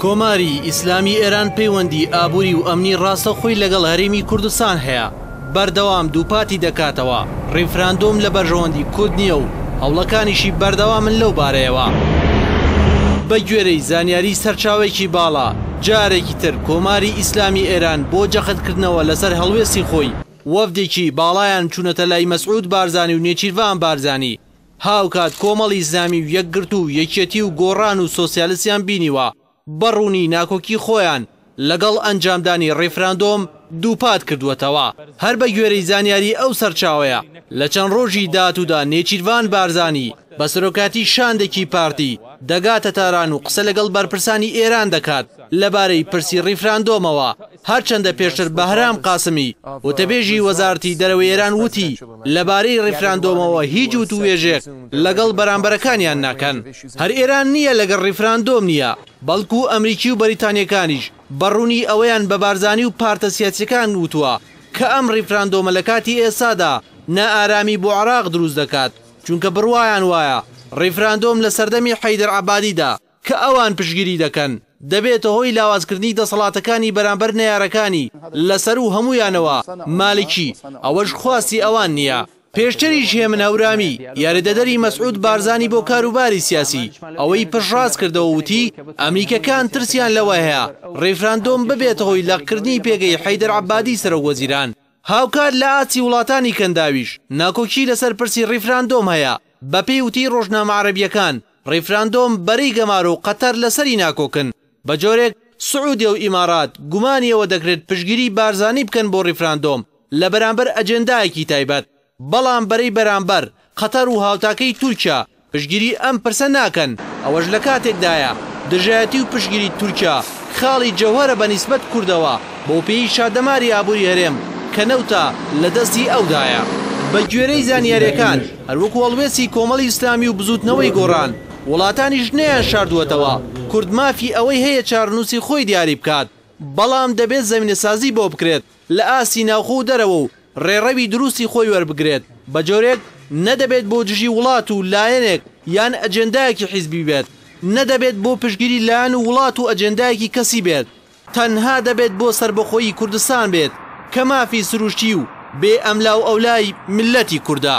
کۆماری ئیسلامی ئێران پەیوەندی ئابووری و ئەمنی ڕاستەخۆی لەگەڵ هەرێمی کوردستان هەیە، بەردەوام دووپاتی دەکاتەوە، ڕیفراندۆم لە بەرژەوەندی کورد نییە و هەوڵەکانیشی بەردەوامن لەو بارەیەوە. بەگوێرەی زانیاریی سەرچاوەیەکی باڵا، جارێکی تر کۆماری ئیسلامی ئێران بۆ جەختکردنەوە لەسەر هەڵوێستی خۆی، وەفدێکی باڵایان چوونەتە لای مەسعود بارزانی و نێچیرڤان بارزانی، هاوکات کۆمەڵی ئیسلامی و یەکگرتوو و یەکیەتی و گۆڕان و سۆسیالستیان بینیوە بە ڕوونی ناکۆکی خۆیان لەگەڵ ئەنجامدانی ڕیفراندۆم دووپات کردووەتەوە. هەر بە گوێرەی زانیاری ئەو سەرچاوەیە لە چەند ڕۆژی داهاتوودا نێچیرڤان بارزانی بە سەرۆکایەتی شاندێکی پارتی دەگاتە تاران و قسە لەگەڵ بەرپرسانی ئێران دەکات لەبارەی پرسی ڕیفراندۆمەوە. هەرچەندە پێشتر بەهرام قاسمی، وتەبێژی وەزارەتی دەرەوەی ئێران وتی، لەبارەی ڕیفراندۆمەوە هیچ وتووێژێک لەگەڵ بەرامبەرەکانیان ناکەن. هەر ئێران نییە لەگەڵ ڕیفراندۆم نییە، بەڵکو ئەمریکی و بەریتانییەکانیش بە ڕوونی ئەوەیان بە بارزانی و پارتە سیاسییەکان وتووە کە ئەم ڕیفراندۆمە لە کاتی ئێستادا نائارامی بۆ عێراق دروست دەکات، چونکە بڕوایان وایە ڕیفراندۆم لە سەردەمی حەیدەر عەبادیدا کە ئەوان پشتگیری دەکەن، دەبێتە هۆی لاوازکردنی دەسەڵاتەکانی بەرامبەر نەیارەکانی، لە سەروو هەموویانەوە مالکی، ئەوەش خواستی ئەوان نییە. پێشتریش هێمن هەورامی، یاریدەدەری مەسعود بارزانی بۆ کاروباری سیاسی، ئەوەی پشتڕاست کردەوە و وتی، ئەمریکییەکان ترسیان لەوە هەیە ڕیفراندۆم ببێتە هۆی لەقکردنی پێگەی حەیدەر عەبادی سەرۆکوەزیران. هاوکات لە ئاستی وڵاتانی کەنداویش ناکۆکی لەسەر پرسی ڕیفراندۆم هەیە، بەپێی وتەی ڕۆژنامە عەرەبییەکان، ڕیفراندۆم بەرەی گەمارۆ و قەتەر لەسەری ناکۆکن، بەجۆرێک سعودیە و ئیمارات گومانی ئەوە دەکرێت پشتگیری بارزانی بکەن بۆ ڕیفراندۆم لەبەرامبەر ئەجێندایەکی تایبەت، بەڵام بەرەی بەرامبەر، قەتەر و هاوتاکەی تورکیا، پشتگیری ئەم پرسە ناکەن، ئەوەش لەکاتێکدایە دژایەتی و پشتگیری تورکیا خاڵی جەوهەرە بەنیسبەت کوردەوە، بەوپێیی شادەماری ئابوری هەرێم کە نەوتە لەدەستی ئەودایە. بەگوێرەی زانیارییەکان، هەروەکو هەڵوێستی کۆمەڵی ئیسلامی و بزووتنەوەی گۆڕان، وڵاتانیش نەیانشاردووەتەوە کورد مافی ئەوەی هەیە چارەنووسی خۆی دیاری بکات، بەڵام دەبێت زەمینەسازی بۆ بکرێت لە ئاستی ناوخۆ و دەرەوە و ڕێڕەوی دروستی خۆی وەربگرێت بە جۆرێک نە دەبێت بۆ دژی وڵات و لایەنێک یان ئەجێندایەکی حیزبی بێت، نە دەبێت بۆ پشتگیری لایەن و وڵات و ئەجێندایەکی کەسی بێت. تەنها دەبێت بۆ سەربەخۆیی کوردستان بێت کە مافی سروشتی و بێ ئەملاو ئەولای میللەتی کوردە.